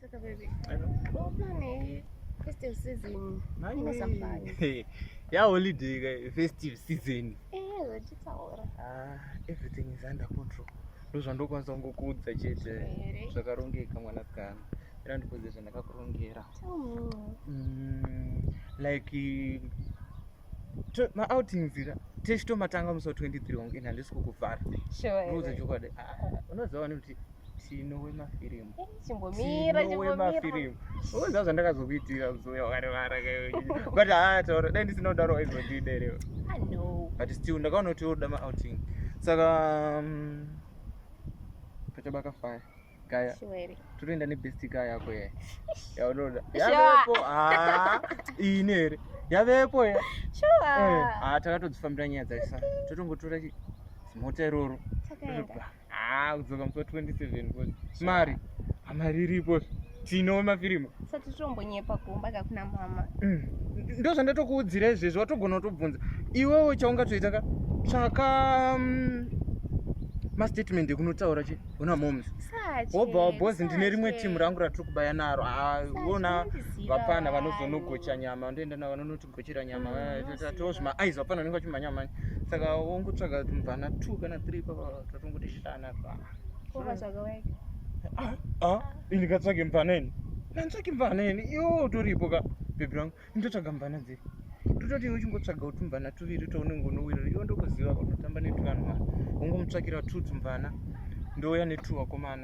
Saka baby. Ubane festive season. Ine safari. Hey, ya holiday ka festive season. Eh, zvachitaura. Ah, everything is under control. Ndozvandokwanisa kungokuudza chete. Here. Zvakarongeka mwanasikana. Era ndikuudze zvandakakurongera. Tell me. Mm, like eh, to- maoutings ira tese tomatanga musi wa 23 wangu ina handisi kukuvhara Sure. ndikuudza here. chokwadi Ah, unoziva wani kuti Tino wemafirimu. Chimbomira, Tino chimbomira. wemafirimu. Unoziva zvandakazokuitira uzoya wakarivara kaiwe. But haa taura dai ndisina kudaro waizondida irewe. I know. But still ndakaona kuti unoda ma outing. Saka um, pachabaka fire. Gaya. Sure ere. totoenda nebest guy yako ye yaunoda Sure. yavepo haa ini here yavepo ye Sure. haa takatodzifambira nyaya dzaisa totongotora chi- zimota iroro Takaenda. Ah, kudzoka musi wa 27 boss. Mari. Ah, Mari iripo. Tino mafirimu. Sati tombonyepa kumba kakuna mama. Mm. Ndo zvandatokuudzira izvezvi watogona kutobvunza. Iwewe chaungatoita ka tsvaka mm, mastatement ekunotaura che una moms. Sachi. Wobva wa boss ndine rimwe team rangu ratiri kubaya naro. Ah, Sachi, wona unondiziva vapana wayo. vanozonogocha nyama ndoenda navo vanonoti kuchira nyama tozvi maaiz vapana unenge vachimba nyama mani saka wongotsvaga mvana two kana three papa tatongoti shana pa ah, ah, ini katsvage mvana ini nantsvage mvana ini iwo utoripo ka bhebhi rangu indotsvaga mvana dziri tototi iwe uchingotsvaga kuti mvana tuviri tounenge unowirira iwo ndokuziva kunotamba netuvanhu mwana ungomutsvakira two tumvana ndouya netuwakomana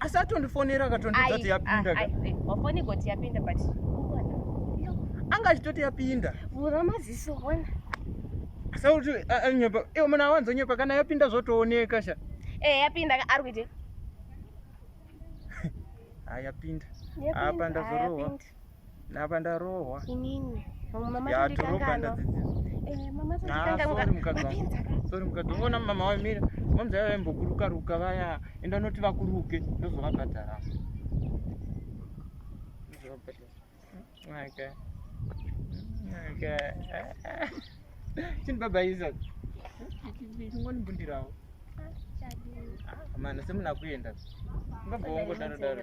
asi atondifonera akatondiudza kuti yapinda wafoni eh, goti yapinda but anga achitoti yapinda vhura maziso ona asauti anyepa iwe muna awanzonyepa kana yapinda zvotooneka sha eh yapinda ari kuite ayapinda apa ndazorohwa Napa ndarohwa. Inini. Mama ya toroba ndadzidzisa. Eh mama tanga mukadzi. Sorry mukadzi. Unoona mama wamira. Mama zvayo vambokuruka ruka vaya. Enda noti vakuruke ndozovabhadhara. Ndozovabhadhara. Okay. Okay. Chini baba Isaac. Chingoni mbundirawo. Mana semunakuenda. Baba wangu daro daro.